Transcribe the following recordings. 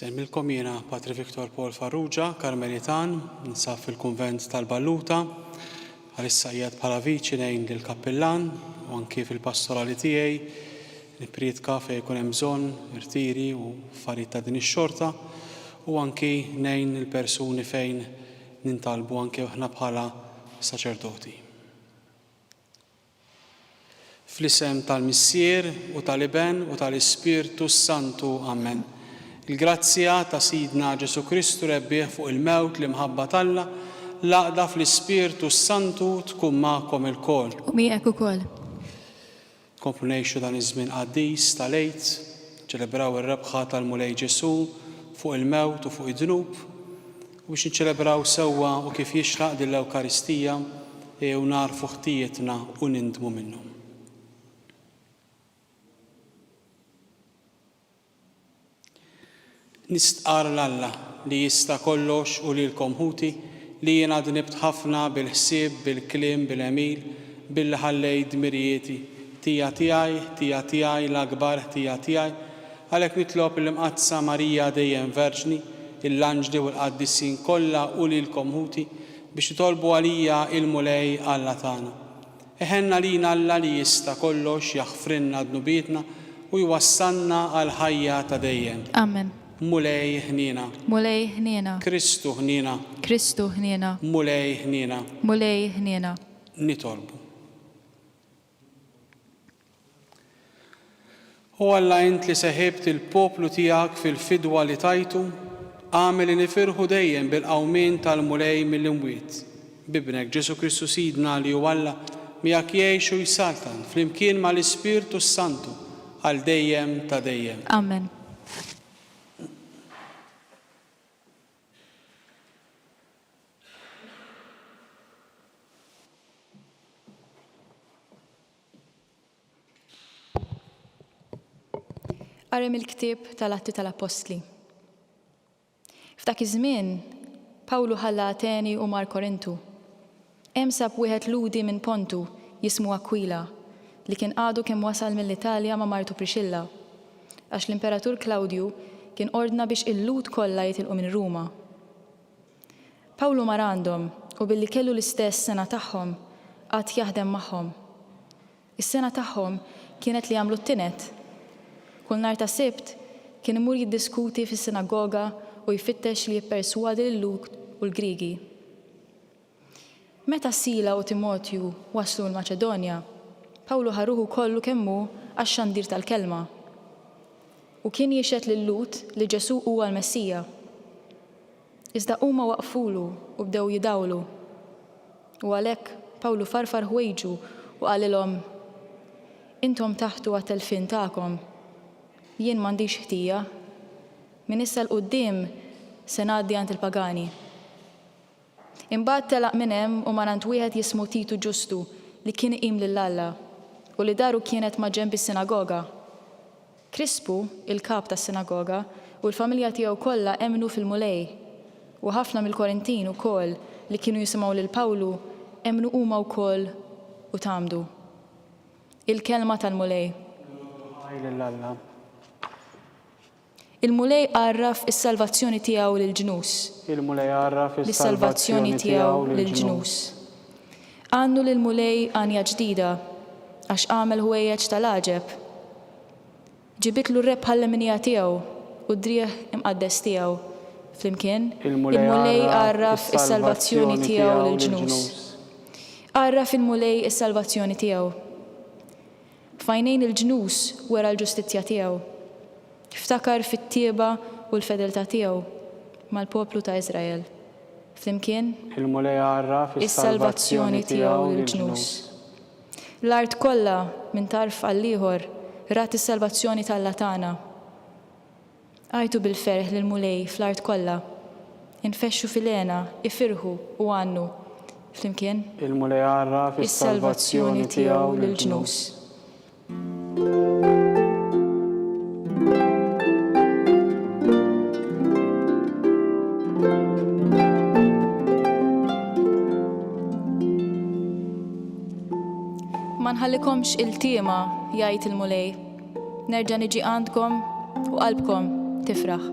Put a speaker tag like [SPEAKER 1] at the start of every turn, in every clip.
[SPEAKER 1] Semmilkom jiena Patri Viktor Paul Farrugia, Karmelitan, nsaf fil-Kunvent tal-Balluta. Bħalissa qiegħed bħala viċi ngħin lill-kappillan u anki fil-pastorali tiegħi nipprietka fejn ikun hemm bżonn, irtiri u affarijiet ta' din ix-xorta, u anki ngħin il-persuni fejn nintalbu anki aħna bħala saċerdoti. Fl-isem tal-Missier, u tal-Iben, u tal-Ispirtu s-Santu. Amen. Il-grazzja ta' Sidna Ġesù Kristu Rebbieħ fuq il-mewt, l-imħabba t'Alla, l-għaqda fl-Ispirtu s-Santu tkun magħkom ilkoll. U miegħek ukoll. Nkomplu ngħixu dan iż-żmien qaddis tal-Għid, niċċelebraw ir-rebħa tal-Mulej Ġesù fuq il-mewt u fuq id-dnub. U biex niċċelebraw sewwa u kif jixraq din l-Ewkaristija, ejjew nagħrfu ħtijietna u nindmu minnhom. Nistqarr 'l Alla li jista' kollox u lilkom ħuti li jiena dnibt ħafna bil-ħsieb, bil-kliem, bil-għemil, billi ħallejt dmirijieti, ħtija tiegħi, ħtija tiegħi, l-akbar ħtija tiegħi, Għalhekk nitlob il-Imqaddsa Marija dejjem Verġni, il-anġli u l-qaddisin kollha u lilkom ħuti biex titolbu għalija il-Mulej Alla tagħna. Iħenn għalina Alla li jista' kollox jaħfrilna dnubietna u jwassalna għall-ħajja ta' dejjem. Amen. Mulej
[SPEAKER 2] ħniena.
[SPEAKER 1] Mulej ħniena.
[SPEAKER 2] Kristu ħniena.
[SPEAKER 1] Kristu ħniena.
[SPEAKER 2] Mulej ħniena.
[SPEAKER 1] Mulej ħniena.
[SPEAKER 2] Nitolbu.
[SPEAKER 1] O Alla int li seħibt il-poplu tiegħek fil-fidwa li tajtu, agħmel li nifirħu dejjem bil-qawmien tal-Mulej mill-imwiet, b'Ibnek Ġesù Kristu Sidna li hu Alla, miegħek jgħix u jsaltan flimkien mal-Ispirtu s-Santu għal dejjem ta' dejjem. Amen.
[SPEAKER 2] Qari mill-ktieb tal-Atti tal-Appostli. F'dak iż-żmien, Pawlu ħalla Ateni u mar Korintu. Hemm sab wieħed Lhudi minn Pontu, jismu Akwila, li kien għadu kemm wasal mill-Italja ma' martu Prixilla, għax l-Imperatur Klawdju kien ordna biex il-Lhud kollha jitilqu minn Ruma. Pawlu mar għandhom u billi kellu l-istess sengħa tagħhom, qagħad jaħdem magħhom. Is-sengħa tagħhom kienet li jagħmlu t-tined. Kull nhar ta' Sibt kien imur jiddiskuti fis-sinagoga u jfittex li jipperswadi lil-Lhud u l-Griegi. Meta Sila u Timotju waslu l-Maċedonja, Pawlu ħa ruħu kollu kemm hu għax-xandir tal-kelma, u kien jixhed lil Lhud li Ġesù huwa l-Messija. Iżda huma waqfulu u bdew jidawlu. U għalhekk Pawlu farfar ħwejġu u qalilhom, Intom taħtu għat-telfien tagħkom. Jien m'għandix ħtija. Minn issa 'l quddiem se ngħaddi għand il-pagani. Imbagħad telaq minn hemm u mar għand wieħed jismu Titu Ġustu li kien iqim lil Alla, u li daru kienet maġenb is-sinagoga. Krispu, il-kap tas-sinagoga, u l-familja tiegħu kollha emmnu fil-Mulej, u ħafna mill-Korintin ukoll li kienu jisimgħu lil Pawlu emmnu huma wkoll u tgħammdu. Il-Kelma tal-Mulej. L-għoddu ħaj lil
[SPEAKER 1] Alla.
[SPEAKER 2] Il-Mulej għarraf is-salvazzjoni tiegħu lill-ġnus. Il-Mulej għarraf
[SPEAKER 1] is-salvazzjoni tiegħu
[SPEAKER 2] lill-ġnus. Għannu lill-Mulej għanja ġdida, għax għamel ħwejjeġ ta' l-għaġeb. Ġibitlu r-rebħa għall-imnija tiegħu u d-driegħ imqaddes tiegħu flimkien. Il-Mulej għarraf is-salvazzjoni tiegħu lill-ġnus. Għarraf il-Mulej is-salvazzjoni tiegħu. F'għajnejn il-ġnus wera l-ġustizzja tiegħu. Ftakar fit-tjieba u l-fedeltà tiegħu mal-poplu ta' Iżrael. Flimkien. Il-Mulej
[SPEAKER 1] għarraf is-salvazzjoni
[SPEAKER 2] tiegħu lill-ġnus. L-art kollha, minn tarf għall-ieħor, rat is-salvazzjoni t'Alla tagħna. Għajtu bil-ferħ lill-Mulej fl-art kollha, infexxu fil-hena, ifirħu u għannu, flimkien. Il-Mulej għarraf
[SPEAKER 1] is-salvazzjoni
[SPEAKER 2] tiegħu lill-ġnus. Ma nħallikomx iltiema, jgħid il-Mulej. Nerġa' niġi għandkom u qalbkom tifraħ.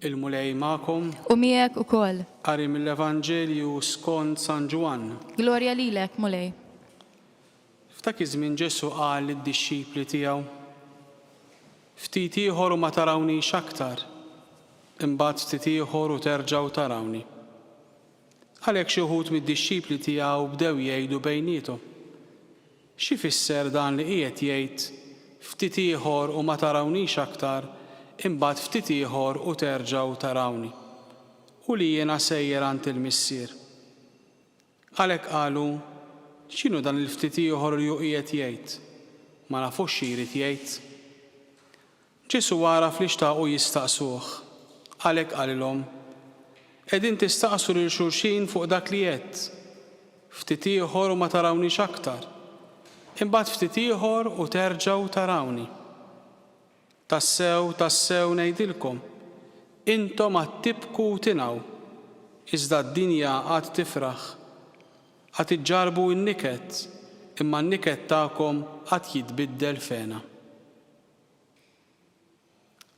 [SPEAKER 1] Il-Mulej ma'kom. U miegħek ukoll.
[SPEAKER 2] Qari mill-Evanġelju
[SPEAKER 1] skont San Ġwann. Glorja lilek,
[SPEAKER 2] Mulej.
[SPEAKER 1] F'dak iż-żmien Ġesù qal lid-dixxipli tiegħu, Ftit ieħor u ma tarawniex aktar, imbagħad ftit ieħor u terġgħu tarawni. Għalhekk xi wħud mid-dixxipli tiegħu bdew jgħidu bejniethom, X'ifisser dan li qiegħed jgħid, 'Ftit ieħor u ma tarawniex aktar, imbagħad ftit ieħor u terġgħu tarawni', u li jiena sejjer għand il-Missier? Għalhekk qalu, X'inhu dan il-ftit ieħor li hu qiegħed jgħid? Ma nafux xi jrid jgħid. Ġesù għaraf li xtaqu jistaqsuh, għalhekk qalilhom, Qegħdin tistaqsu lil xulxin fuq dak li għedt, 'Ftit ieħor u ma tarawniex aktar, imbagħad ftit ieħor u terġgħu tarawni'? Tassew, tassew ngħidilkom, intom għad tibku u tingħu, iżda d-dinja għad tifraħ. Għad iġġarrbu n-niket, imma n-niket tagħkom għad jitbiddel f'hena.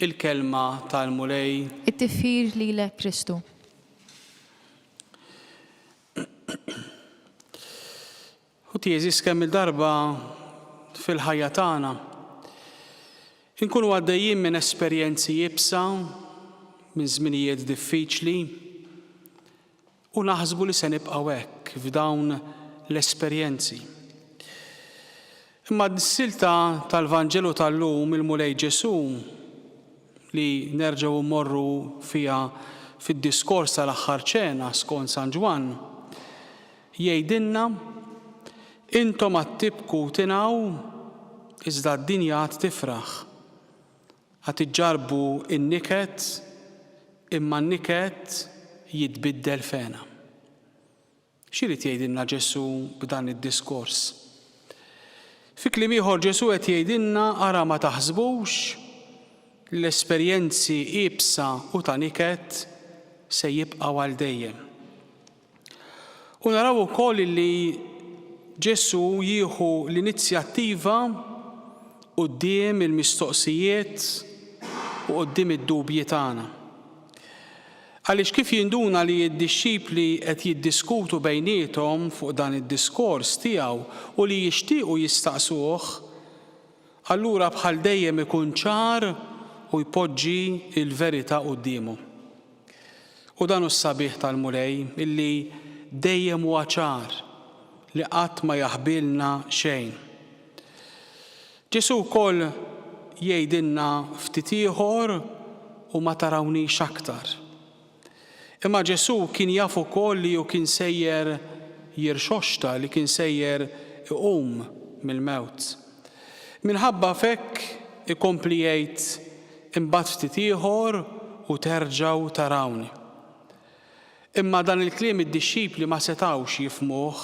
[SPEAKER 1] Il-Kelma tal-Mulej. It-tifħir
[SPEAKER 2] lilek Kristu.
[SPEAKER 1] Ħuti għeżież kemm-il darba fil-ħajja tagħna inkunu għaddejjin minn esperjenzi iebsa, minn żminijiet diffiċli u naħsbu li se nibqgħu hekk f'dawn l-esperjenzi. Imma s-silta tal-Vanġelu tal-lum il-Mulej Ġesù li nerġgħu mmorru fiha fid-diskors tal-Aħħar Ċena skont San Ġwann, Jgħidilna, Intom għad tibku u tingħu, iżda d-dinja għad tifraħ. Għad iġġarrbu n-niket, imma n-niket jitbiddel f'hena. X'irid jgħidilna Ġesù b'dan id-diskors? Fi kliem ieħor Ġesù qed jgħidilna ara ma taħsbux li l-esperjenzi iebsa u ta' niket se jibqgħu għal dejjem. U naraw ukoll li Ġesù jieħu l-inizjattiva quddiem il-mistoqsijiet u quddiem id-dubji tagħna. Għaliex kif jinduna li d-dixxipli qed jiddiskutu bejniethom fuq dan id-diskors tiegħu u li jixtiequ jistaqsuh, allura bħal dejjem ikun ċar u jpoġġi l-verità quddiemhom. U dan hu s-sabiħ tal-Mulej, illi dejjem huwa ċar, li qatt ma jaħbilna xejn. Ġesù wkoll jgħidilna ftit ieħor u ma tarawniex aktar. Imma Ġesù kien jaf ukoll li hu kien sejjer jirxoxta, li kien sejjer iqum mill-mewt. Minħabba f'hekk ikompli jgħid, Imbagħad ftit ieħor u terġgħu tarawni. Imma dan il-kliem id-dixxipli ma setgħux jifhmuh.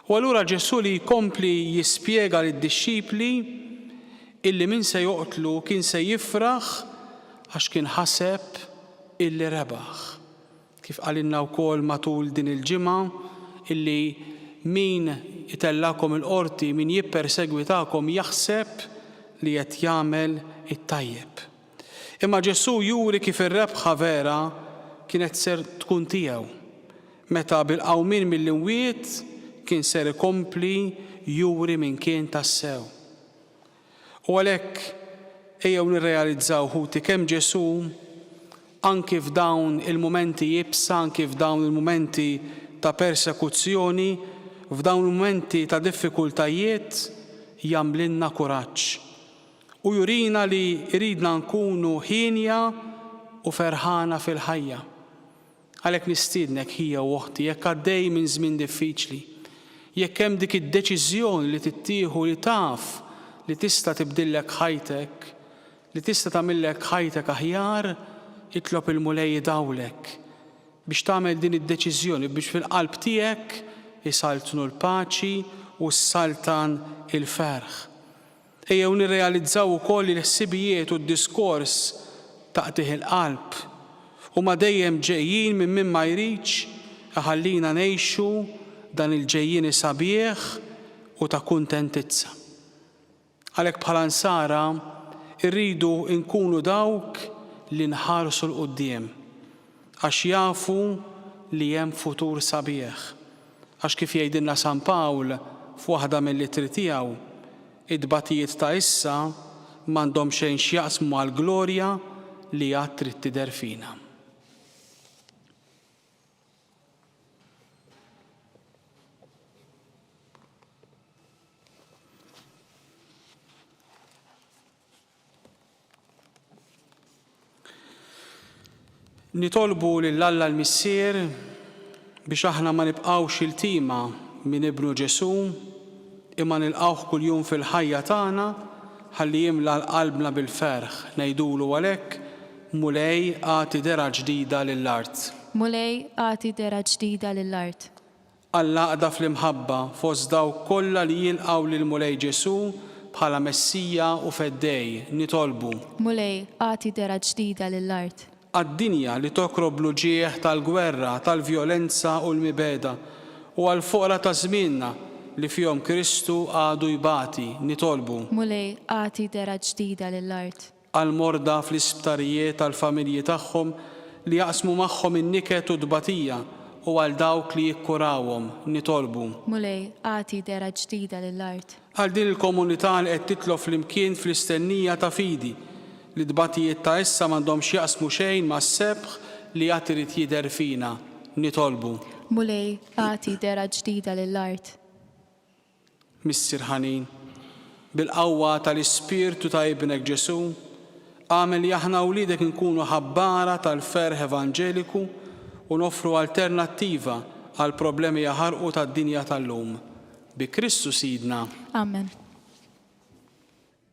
[SPEAKER 1] U allura Ġesù li jkompli jispjega lid-dixxipli illi min se joqtlu kien se jifraħ għax kien ħaseb illi rebaħ. Kif qalilna wkoll matul din il-ġimgħa illi min itellgħakom il-qorti, min jippersegwitakom jaħseb li qed jagħmel it-tajjeb. Imma Ġesù juri kif ir-rebħa vera kienet ser tkun tiegħu, meta bil-qawmien mill-imwiet kien ser ikompli juri min kien tassew. U għalhekk ejjew nirrealizzaw ħuti kemm Ġesù anki f'dawn il-mumenti iebsa, anki f'dawn il-mumenti ta' persekuzzjoni, f'dawn il-mumenti ta' diffikultajiet jagħmlilna kuraġġ. U jurina li jridna nkunu hienja u ferħana fil-ħajja. Għalhekk nistiednek ħija u oħti, jekk għaddej minn żmien diffiċli, jekk hemm dik id-deċiżjoni li tittieħu li taf li tista' tibdillek ħajtek, li tista' tagħmillek ħajtek aħjar, itlob il-Mulej jidawlek biex tagħmel din id-deċiżjoni biex fil-qalb tiegħek isaltnu l-paċi u ssaltan il-ferħ. Ejjew nirrealizzaw ukoll li l-ħsibijiet u d-diskors ta' qtigħ il-qalb huma dejjem ġejjin minn min ma jridx iħallina ngħixu dan il-ġejjieni sabiħ u ta' kuntentizza. Għalhekk bħala Nsara rridu nkunu dawk li nħarsu 'l quddiem għax jafu li hemm futur sabiħ. Għax kif jgħidilna San Pawl f'waħda mill-ittri tiegħu, it-tbatijiet ta' issa m'għandhom xejn x'jaqsmu mal-glorja li għad trid tidher fina. Nitolbu lil Alla l-Missier biex aħna ma nibqgħux iltima minn Ibnu Ġesù imma nilqgħuh kuljum fil-ħajja tagħna ħalli jimla qalbna bil-ferħ, ngħidulu għalhekk, Mulej agħti dehra ġdida lill-art. Mulej
[SPEAKER 2] agħti dehra ġdida lill-art. għall-għaqda
[SPEAKER 1] fl-imħabba fost dawk kollha li jilqgħu lill-Mulej Ġesù bħala Messija u Feddej, nitolbu. Mulej, agħti
[SPEAKER 2] dehra ġdida lill-art. Għad-dinja li
[SPEAKER 1] tokrob l-uġigħ tal-gwerra, tal-vjolenza u l-mibegħda, u għall-foqra ta' żmienna li fihom Kristu għadu jbati, nitolbu. Mulej, agħti
[SPEAKER 2] dehra ġdida lill-art. għall-morda
[SPEAKER 1] fl-isptarijiet, għall-familji tagħhom li jaqsmu magħhom in-niket u t-tbatija, u għal dawk li jikkurawhom, nitolbu. Mulej, agħti
[SPEAKER 2] dehra ġdida lill-art. Għal din il-komunità
[SPEAKER 1] li qed titlof flimkien fl-istennija ta' fidi li t-tbatijiet ta' issa m'għandhomx jaqsmu xejn mas-sebħ li għad irid jidher fina, nitolbu. Mulej,
[SPEAKER 2] agħti dehra ġdida lill-art.
[SPEAKER 1] Missier ħanin, bil-qawwa tal-Ispirtu ta' Ibnek Ġesù, agħmel li aħna wliedek inkunu ħabbara tal-ferħ evanġeliku u noffru alternattiva għall-problemi jaħarqu tad-dinja tal-lum. Bi Kristu Sidna. Amen.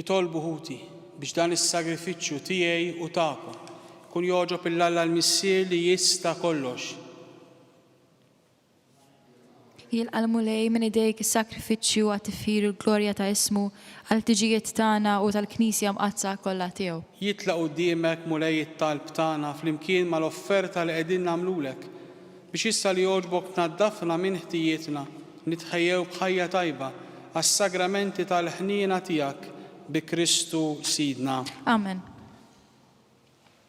[SPEAKER 1] Itolbu ħuti biex dan is-sagrifiċċju tiegħi u tagħkom kun jogħġob il-Alla l-Missier li jista' kollox.
[SPEAKER 2] Jilqa' l-Mulej minn idejk is-sagrifiċċju għat-tifħir u l-glorja ta' ismu, għall-ħtiġijiet tagħna u tal-Knisja mqaddsa kollha tiegħu. Jitla' quddiemek,
[SPEAKER 1] Mulej, it-talb tagħna flimkien mal-offerta li qegħdin nagħmlulek, biex issa li jogħġbok tnaddafna minn ħtijietna, nitħejjew b'ħajja tajba għas-sagramenti tal-ħniena tiegħek, bi Kristu Sidna. Amen.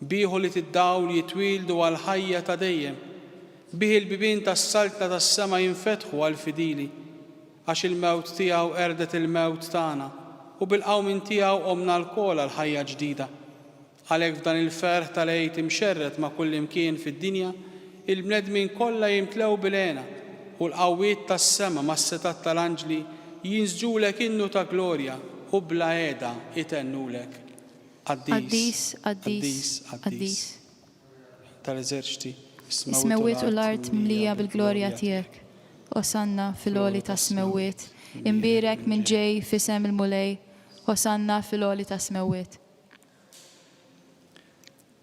[SPEAKER 1] Bih ulied id-dawl jitwieldu għall-ħajja ta' dejjem. Bih il-bibien tas-saltna tas-sema jinfetħu għall-fidili. Għax il-mewt tiegħu qerdet il-mewt tagħna, u bil-qawmien tiegħu qomna lkoll għal ħajja ġdida. Għalhekk f'dan il-ferħ tal-Għid imxerred ma' kullimkien fid-dinja, il-bnedmin kollha jimtlew bil-hena, u l-qawwiet tas-sema mas-setgħat tal-anġli jinsġulek innu ta' glorja u bla heda itennulek.
[SPEAKER 2] Qaddis, qaddis, qaddis.
[SPEAKER 1] Tal-eżerċti, is-smewwiet
[SPEAKER 2] u l-art mlija bil-glorja tiegħek. Osanna fil-għoli tas-smewwiet. Imbierek min ġej f'isem il-Mulej. Osanna fil-għoli tas-smewwiet.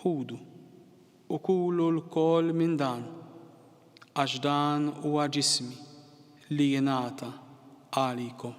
[SPEAKER 1] Ħudu, u kulu lkoll minn dan, għax dan huwa ġismi, li jingħata għalikom.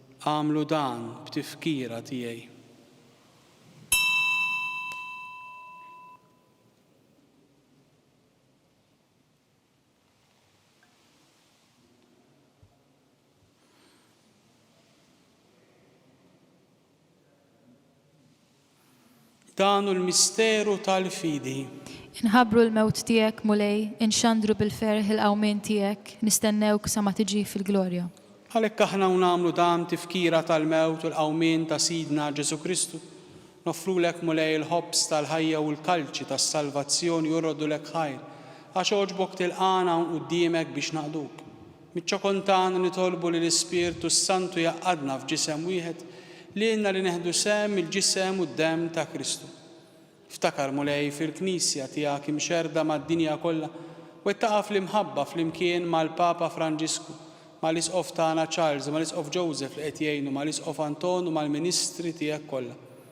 [SPEAKER 1] Agħmlu dan b'tifkira tiegħi. Dan hu l-misteru tal-fidi. Inħabbru
[SPEAKER 2] l-mewt tiegħek, Mulej, inxandru bil-ferħ il-qawmien tiegħek, nistennewk sa ma tiġi fil-glorja. Għalhekk aħna u
[SPEAKER 1] nagħmlu dan tifkira tal-mewt u l-qawmien ta' Sidna Ġesù Kristu, noffrulek, Mulej, il-ħobż tal-ħajja u l-kalċi tas-salvazzjoni jorrodu lek ħajr, għax għoġbok tilqagħna hawn quddiemek biex naqduk. Miċ-ċokon tagħna nitolbu li l-Ispirtu s-Santu jgħaqqadna f'ġisem wieħed lilna li neħdu sehem mill-ġisem u d-demm ta' Kristu. Ftakar, Mulej, fil-Knisja tiegħek imxerrda mad-dinja kollha, wettaqha fl-imħabba flimkien mal-Papa Franġisku, mal-Isqof tagħna Charles, mal-Isqof Joseph li qed jgħinu, mal-Isqof Anton u mal-ministri tiegħek kollha.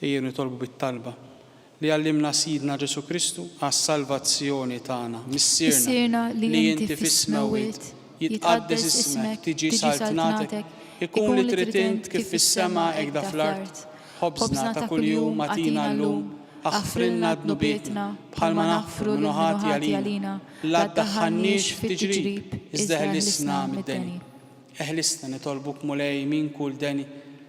[SPEAKER 1] Ejjew nitolbu bit-talba. Li għallimna Sidna Ġesù Kristu għas-salvazzjoni tagħna. Missierna, li inti fis-smewwiet, jitqaddes ismek, tiġi saltnatek, ikun li trid int kif fis-sema hekk da fl-art. Ħobżna ta' kuljum agħtina llum, aħfrilna dnubietna, bħalma naħfru lil min hu ħati għalina. La ddaħħalniex fit-tiġrib, iżda eħlisna mid-deni. Eħlisna, nitolbuk Mulej, minn kull deni.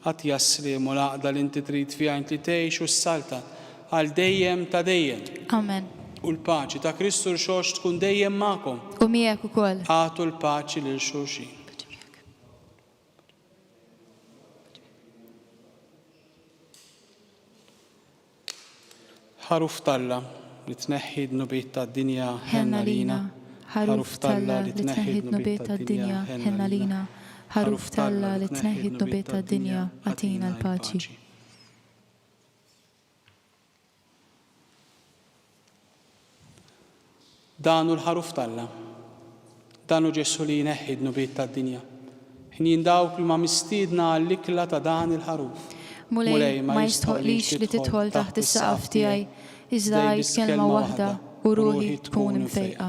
[SPEAKER 1] Għad jassliem u l-għaqda li inti trid fiha int li tgħix u ssaltan għal dejjem ta' dejjem. Amen. U
[SPEAKER 2] l-paċi ta'
[SPEAKER 1] Kristu Rxox tkun dejjem magħkom. U miegħek ukoll.
[SPEAKER 2] Agħtu l-paċi
[SPEAKER 1] lil xulxin. Paċi miegħek. Paċi miegħek. Ħaruf t'Alla, li tneħħi d-dnubiet tad-dinja, ħenn għalina. Ħaruf
[SPEAKER 2] t'Alla, li tneħħi d-dnubiet tad-dinja, ħenn għalina. Ħaruf t'Alla, li tneħħi d-dnubiet tad-dinja, agħtina l-paċi.
[SPEAKER 1] Dan hu l-Ħaruf t'Alla. Dan hu Ġesù li jneħħi d-dnubiet tad-dinja. Ħnien dawk li huma mistiedna għall-ikla ta' dan il-Ħaruf. Mulej, ma
[SPEAKER 2] jistħoqlix li tidħol taħt is-saqaf tiegħi, iżda għid kelma waħda u ruħi tkun imfejqa.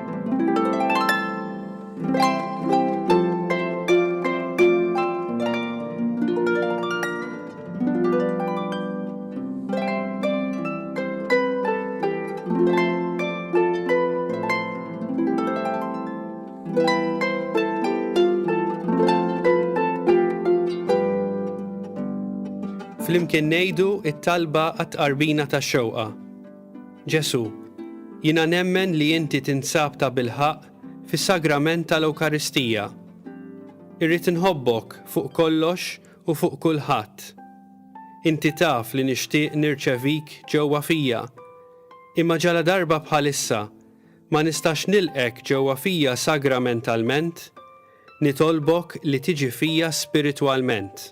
[SPEAKER 3] Flimkien ngħidu t-talba għat-tqarbina tax-xewqa. Ġesù, jiena nemmen li inti tinsab tabilħaqq fis-Sagrament tal-Ewkaristija. Irrid inħobbok fuq kollox u fuq kulħadd. Inti taf li nixtieq nirċevik ġewwa fija, imma ġaladarba bħalissa ma nistax nilqgħek ġewwa fija sagramentalment, nitolbok li tiġi fija spiritwalment.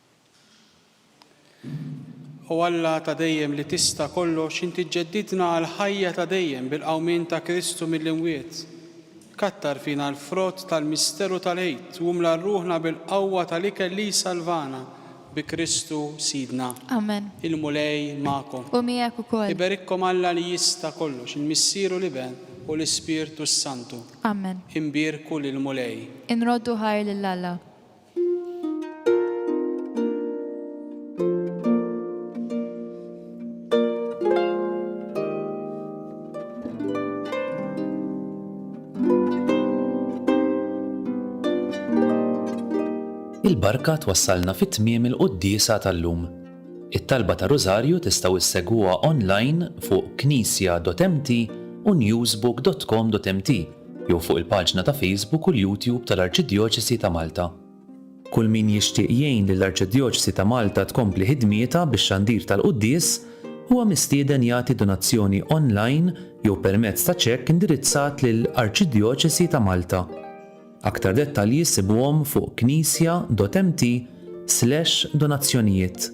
[SPEAKER 1] O Alla ta' dejjem li tista' kollox, inti ġġeddidna għall-ħajja ta' dejjem bil-qawmien ta' Kristu mill-imwiet. Kattar fina l-frott tal-misteru tal-Għid u mla ruħna bil-qawwa tal-ikel li jsalvana, bi Kristu Sidna. Amen. Il-Mulej
[SPEAKER 2] magħkom.
[SPEAKER 1] U miegħek ukoll.
[SPEAKER 2] Iberikkom Alla li
[SPEAKER 1] jista' kollox, il-Missier u l-Iben u l-Ispirtu s-Santu. Amen. Inbierku lill-Mulej. Inroddu ħajr
[SPEAKER 2] lil Alla.
[SPEAKER 4] Il-barka twassalna fi tmiem il-quddiesa tal-lum. It-talba ta' Rużarju tistgħu ssegwuha onlajn fuq knisja.mt u newsbook.com.mt jew fuq il-paġna ta' Facebook u l-YouTube tal-Arċidjoċesi ta' Malta. Kull min jixtieq jgħin lill-Arċidjoċesi ta' Malta tkompli ħidmietha bix-xandir tal-quddies huwa mistieden jagħti donazzjoni onlajn jew permezz ta' ċekk indirizzat lil Arċidjoċesi ta' Malta. Aktar dettalji ssibuhom fuq Knisja Dotemti slash donazzjonijiet.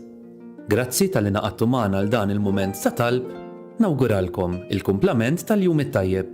[SPEAKER 4] Grazzi talli ngħaqadtu magħna għal dan il-mument ta' talb, nawguralkom il-kumplament tal-jum it-tajjeb.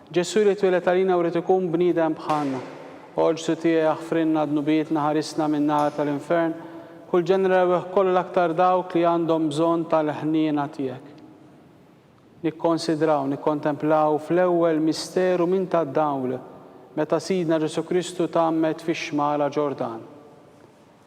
[SPEAKER 1] Ġesù li twieled għalina u ried ikun bniedem bħalna. O Ġsu tiegħi aħfrilna dnubietna ħarisna min-nar tal-infern, kull ġeneri rewwieħ kollu l-aktar dawk li għandhom bżonn tal-ħniena tiegħek. Nikkonsidraw, nikkontemplaw fl-ewwel misteru minn tad-dawl meta Sidna Ġesù Kristu tgħammed fix-xmara Ġordan.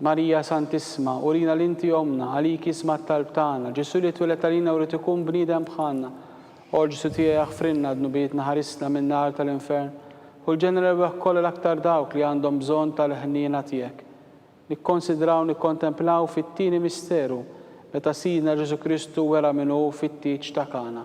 [SPEAKER 2] Marija Santissma,
[SPEAKER 1] urina li inti ommna, għalik jisma' t-talb tagħna. Ġesù li tweled għalina wrid ikun bniedem bħalna. O Ġesù tiegħi aħfrilna dnubietna ħarisna min-nar tal-infern u l-ġenna l-erwieħ kollha l-aktar dawk li għandhom bżonn tal-ħniena tiegħek. Nikkonsidraw nikkontemplaw fit-tieni misteru meta Sidna Ġesù Kristu wera min hu fit-tieġ ta' Kana.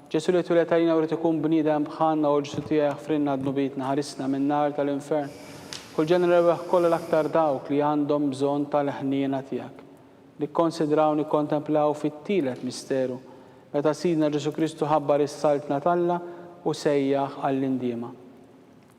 [SPEAKER 1] Ġesu' li tweled għalina u ried ikun bniedem bħalna o Ġesu' tiegħi aħfrilna dnubietna ħarisna min nar ta' l-infern kull ġeneri rebbeħ kollha l-aktar dawk li għandhom bżonn ta' l-ħniena tiegħek. Nikkonsidraw nikkontemplaw fit-tielet misteru meta Sidna Ġesu' Kristu ħabbar is-Saltna t'Alla u sejjaħ għall-indiema.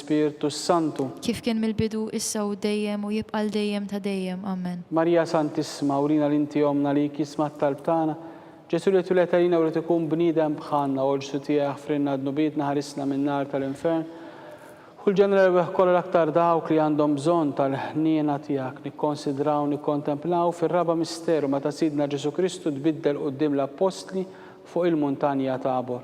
[SPEAKER 1] l-Ispirtu s-Santu. Kif kien mill-bidu,
[SPEAKER 2] issa u dejjem, u jibqa' għal dejjem ta' dejjem. Amen. Marija Santissima,
[SPEAKER 1] urina li inti ommna li jkisma t-talb tagħna. Ġesù li twiled għalina u ried ikun bniedem bħalna, u l-ġsu tiegħi aħfrilna dnubietna ħarisna min-nar tal-infern. Hu l-ġenn l-erwieħ kollha l-aktar dawk li għandhom bżonn tal-ħniena tiegħek. Nikkonsidraw u nikkontemplaw fir-raba' misteru meta Sidna Ġesù Kristu tbiddel quddiem l-appostli fuq il-muntanja Tabor.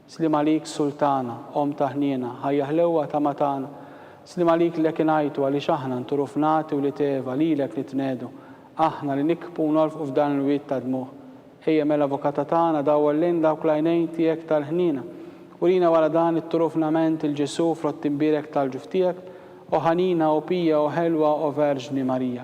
[SPEAKER 1] Sliem għalik Sultana, omm ta' ħniena, ħajja ħlewwa ta' ma tana. Sliem għalik lek ingħajtu għaliex aħna nturu fnati wlied Eva lilek nitnegħdu. Aħna li nikbu u nolfqu f'dan il-wied ta' dmugħ. Ejja mela Avukata tagħna dawwal lejn dawk l-għajnejn tiegħek tal-ħniena. Urina wara dan it-turufnament il-Ġesù frott imbierek tal-ġuf tiegħek, O ħanina, O pija, O ħelwa, O Verġni Marija.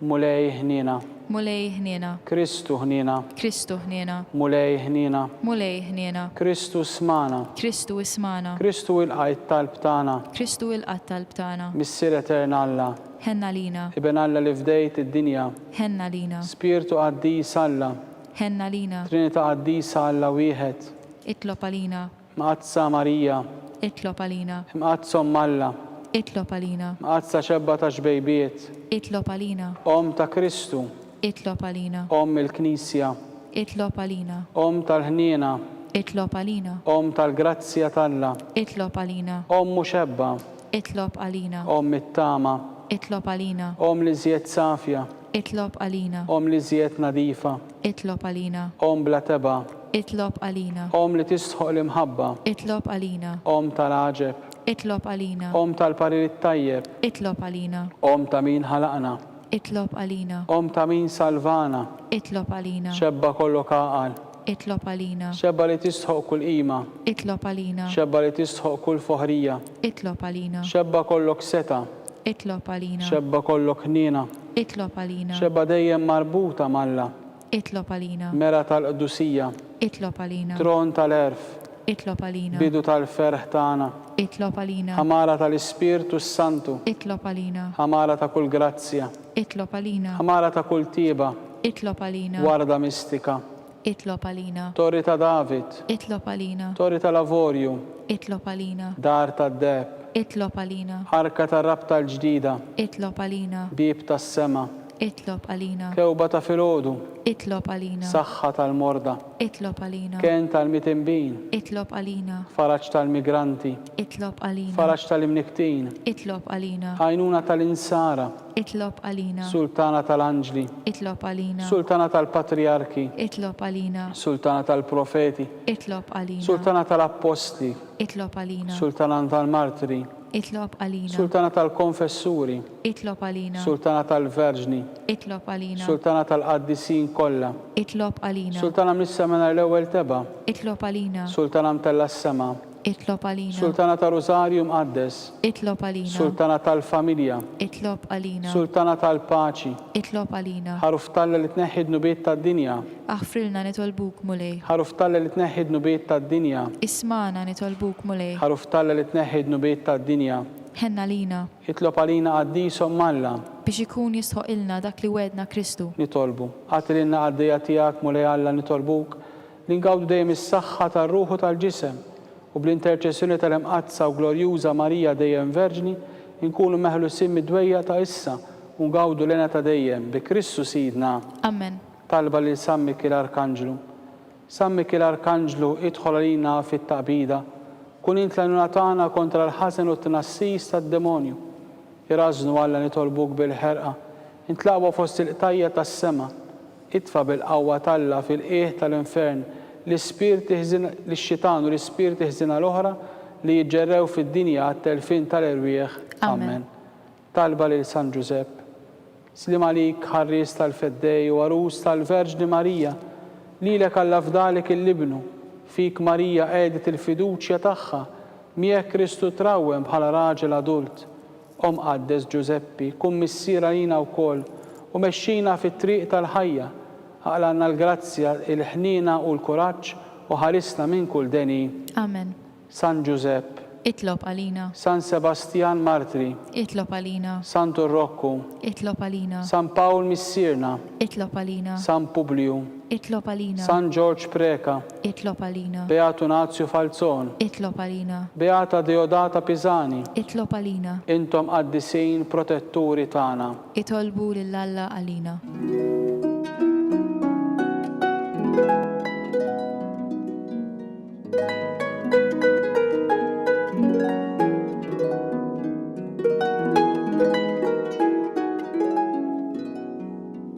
[SPEAKER 2] Mulej
[SPEAKER 1] ħniena. Mulej ħniena.
[SPEAKER 2] Kristu ħniena.
[SPEAKER 1] Kristu ħniena.
[SPEAKER 2] Mulej ħniena.
[SPEAKER 1] Mulej ħniena.
[SPEAKER 2] Kristu smana.
[SPEAKER 1] Kristu ismana.
[SPEAKER 2] Kristu ilqa' it-talb
[SPEAKER 1] tagħna. Kristu ilqa' t-talb
[SPEAKER 2] tagħna. Missier Etern Alla.
[SPEAKER 1] Ħenn għalina.
[SPEAKER 2] Iben Alla li fdejt
[SPEAKER 1] id-dinja. Ħenn għalina.
[SPEAKER 2] Spirtu Qaddis
[SPEAKER 1] Alla. Ħenn għalina.
[SPEAKER 2] Trinita' Qaddisa
[SPEAKER 1] Alla Wieħed. Itlob għalina.
[SPEAKER 2] Mqaddsa Marija.
[SPEAKER 1] Itlob għalina.
[SPEAKER 2] Mqaddsa Omm Alla.
[SPEAKER 1] Itlob għalina.
[SPEAKER 2] Mqaddsa Xebba
[SPEAKER 1] tax-Xbejbiet. Itlob għalina.
[SPEAKER 2] Omm ta' Kristu.
[SPEAKER 1] Itlob għalina.
[SPEAKER 2] Omm il-Knisja.
[SPEAKER 1] Itlob għalina.
[SPEAKER 2] Omm tal-ħniena.
[SPEAKER 1] Itlob għalina.
[SPEAKER 2] Omm tal-grazzja
[SPEAKER 1] t'Alla. Itlob għalina.
[SPEAKER 2] Omm muxebba.
[SPEAKER 1] Itlob għalina.
[SPEAKER 2] Omm it-tama.
[SPEAKER 1] Itlob għalina.
[SPEAKER 2] Omm l-iżjed
[SPEAKER 1] safja. Itlob għalina.
[SPEAKER 2] Omm l-iżjed
[SPEAKER 1] nadifa. Itlob għalina.
[SPEAKER 2] Omm bla tebgħa.
[SPEAKER 1] Itlob għalina.
[SPEAKER 2] Omm li tistħoq
[SPEAKER 1] l-imħabba. Itlob għalina.
[SPEAKER 2] Omm tal-għaġeb.
[SPEAKER 1] Itlob għalina.
[SPEAKER 2] Omm tal-parir
[SPEAKER 1] it-tajjeb. Itlob għalina.
[SPEAKER 2] Omm ta' min
[SPEAKER 1] ħalaqna. Itlob għalina.
[SPEAKER 2] Omm ta' min
[SPEAKER 1] salvana. Itlob għalina.
[SPEAKER 2] Xebba kollok għaqal.
[SPEAKER 1] Itlob għalina.
[SPEAKER 2] Xebba li tistħoq
[SPEAKER 1] kull qima. Itlob għalina.
[SPEAKER 2] Xebba li tistħoq
[SPEAKER 1] kull foħrija. Itlob għalina.
[SPEAKER 2] Xebba kollok setgħa.
[SPEAKER 1] Itlob għalina.
[SPEAKER 2] Xebba kollok ħniena.
[SPEAKER 1] Itlob għalina.
[SPEAKER 2] Xebba dejjem marbuta
[SPEAKER 1] m'Alla. Itlob għalina.
[SPEAKER 2] Mera tal-qdusija.
[SPEAKER 1] Itlob għalina.
[SPEAKER 2] Tron tal-għerf.
[SPEAKER 1] Itlob għalina.
[SPEAKER 2] Bidu tal-ferħ
[SPEAKER 1] tagħna. Itlob għalina.
[SPEAKER 2] Ħamara tal-Ispirtu
[SPEAKER 1] s-Santu. Itlob għalina.
[SPEAKER 2] Ħamara ta' kull
[SPEAKER 1] grazzja. Itlob għalina.
[SPEAKER 2] Ħamara ta' kull tieba.
[SPEAKER 1] Itlob għalina.
[SPEAKER 2] Warda mistika.
[SPEAKER 1] Itlob għalina.
[SPEAKER 2] Torri ta' David.
[SPEAKER 1] Itlob għalina.
[SPEAKER 2] Torri tal-Avorju.
[SPEAKER 1] Itlob għalina.
[SPEAKER 2] Dar tad-deheb.
[SPEAKER 1] Itlob għalina.
[SPEAKER 2] Arka tar-rabta
[SPEAKER 1] l-ġdida. Itlob għalina.
[SPEAKER 2] Bieb tas-sema.
[SPEAKER 1] Itlob għalina.
[SPEAKER 2] Kewba ta' filgħodu.
[SPEAKER 1] Itlob għalina.
[SPEAKER 2] Saħħa tal-morda.
[SPEAKER 1] Itlob għalina.
[SPEAKER 2] Kenn tal-mitinbin.
[SPEAKER 1] Itlob għalina.
[SPEAKER 2] Faraġ tal-migranti.
[SPEAKER 1] Itlob għalina.
[SPEAKER 2] Faraġ tal-imnikktin.
[SPEAKER 1] Itlob għalina.
[SPEAKER 2] Għajnuna tal-insara.
[SPEAKER 1] Itlob għalina.
[SPEAKER 2] Sultana tal-anġli.
[SPEAKER 1] Itlob għalina.
[SPEAKER 2] Sultana tal-patrijarki.
[SPEAKER 1] Itlob għalina.
[SPEAKER 2] Sultana tal-profeti.
[SPEAKER 1] Itlob għalina.
[SPEAKER 2] Sultana tal-appostli.
[SPEAKER 1] Itlob għalina.
[SPEAKER 2] Sultana tal-martri.
[SPEAKER 1] Itlob għalina.
[SPEAKER 2] Sultana tal-konfessuri.
[SPEAKER 1] Itlob għalina.
[SPEAKER 2] Sultana tal-verġni.
[SPEAKER 1] Itlob għalina.
[SPEAKER 2] Sultana tal-qaddisin
[SPEAKER 1] kollha. Itlob għalina. Sultana mis-sema nhar
[SPEAKER 2] l-ewwel
[SPEAKER 1] tebgħa. Itlob għalina. Sultana mtella s-sema.
[SPEAKER 2] Itlob għalina. Sultana tar-Rużarju
[SPEAKER 1] Mqaddes. Itlob għalina.
[SPEAKER 2] Sultana tal-Familja.
[SPEAKER 1] Itlob għalina.
[SPEAKER 2] Sultana tal-Paċi.
[SPEAKER 1] Itlob għalina.
[SPEAKER 2] Ħaruf t'Alla li tneħħi
[SPEAKER 1] d-dnubiet tad-dinja. Aħfrilna
[SPEAKER 2] nitolbuk, Mulej. Ħaruf t'Alla li tneħħi
[SPEAKER 1] d-dnubiet tad-dinja. Ismagħna nitolbuk,
[SPEAKER 2] Mulej. Ħaruf t'Alla li tneħħi
[SPEAKER 1] d-dnubiet tad-dinja. Ħenn għalina.
[SPEAKER 2] Itlob għalina
[SPEAKER 1] Qaddis Omm Alla. Biex ikun
[SPEAKER 2] jistħoqqilna dak li wegħdna Kristu. Nitolbu. Agħti
[SPEAKER 1] lilna qaddejja tiegħek, Mulej Alla, nitolbuk. li ngawdu dejjem is-saħħa tar-ruħ u tal-ġisem, u bl-interċessjoni tal-Imqaddsa u Glorjuża Marija Dejjem Verġni, inkunu meħlusin mid-dwejjaq ta' issa u ngawdu l-hena ta' dejjem, bi Kristu Sidna. Amen. Talba
[SPEAKER 2] lil San
[SPEAKER 1] Mikiel Arkanġlu San Mikiel Arkanġlu, idħol għalina fit-taqbida, kun int l-għajnuna tagħna kontra l-ħażen u t-tnassis tad-demonju. Irażżnu Alla nitolbuk bil-ħerqa, int l-aqwa fost il-qtajja' tas-sema, Itfa' bil-qawwa t'Alla fil-qiegħ tal-infern l-ispirti ħżin lix-xitan u l-ispirti ħżiena l-oħra li jiġġerrew fid-dinja għat-telfien tal-erwieħ. Amen. Talba lil San Ġużepp. Sliem għalik, ħarries tal-Feddej u għarus tal-Verġni Marija. Lilek Alla fda li kien l-Ibnu. Fik Marija qegħdet il-fiduċja tagħha. Miegħek Kristu trawwem bħala raġel adult. O Mqaddes Ġużeppi, kun missier għalina wkoll u mexxina fit-triq tal-ħajja. Aqlagħna l-grazzja, il-ħniena u l-kuraġġ u ħarisna minn kull deni. Amen.
[SPEAKER 2] San Ġużepp.
[SPEAKER 1] Itlob għalina.
[SPEAKER 2] San Sebastjan
[SPEAKER 1] Martri. Itlob għalina.
[SPEAKER 2] Santu Rokku.
[SPEAKER 1] Itlob għalina.
[SPEAKER 2] San Pawl Missierna.
[SPEAKER 1] Itlob għalina.
[SPEAKER 2] San Publju.
[SPEAKER 1] Itlob għalina.
[SPEAKER 2] San Ġorġ Preca.
[SPEAKER 1] Itlob għalina.
[SPEAKER 2] Beat Unazju
[SPEAKER 1] Falzon. Itlob għalina.
[SPEAKER 2] Beata Deodata
[SPEAKER 1] Pisani. Itlob għalina.
[SPEAKER 2] Intom qaddisin
[SPEAKER 1] protetturi tagħna. Itolbu lil
[SPEAKER 2] Alla għalina.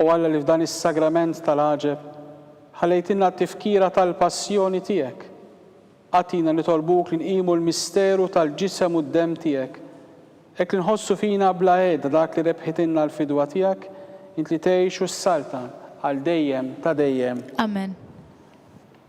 [SPEAKER 1] O Alla li f'dan is-Sagrament tal-għaġeb ħallejtilna t-tifkira tal-Passjoni tiegħek, agħtina nitolbuk li nqimu l-misteru tal-Ġisem u d-Demm tiegħek, hekk li nħossu fina bla għeda dak li rebħitilna l-fidwa tiegħek, int li tgħix u ssaltan għal dejjem ta' dejjem. Amen.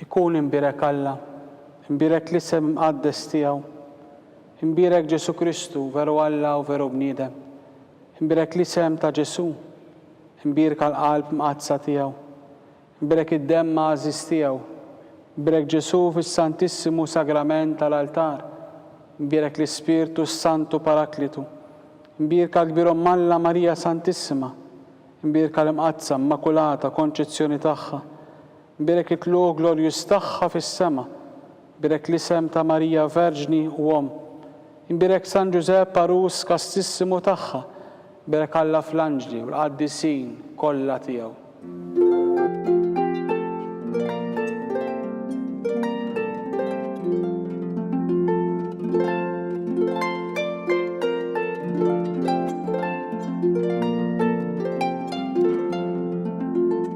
[SPEAKER 1] Ikun imbierek Alla, imbierek l-isem imqaddes tiegħu, imbierek Ġesù Kristu, veru Alla u veru bniedem, imbierek l-isem ta' Ġesù, imbierka l-qalb mqaddsa tiegħu, imbierek id-demm għażiż tiegħu, imbierek Ġesù fis-Santissimu Sagrament tal-altar, imbierek l-Ispirtu s-Santu Paraklitu, imbierka l-Kbir Omm Alla Marija Santissima, imbierka l-Imqaddsa Immakulata Konċezzjoni tagħha, Bierek it-tluq glorjuż tagħha fis-sema. Bierek l-isem ta' Marija Verġni u Omm. Imbierek San Ġużepp għarus kastissimu tagħha. Bierek Alla fl-anġli u l-qaddisin kollha tiegħu.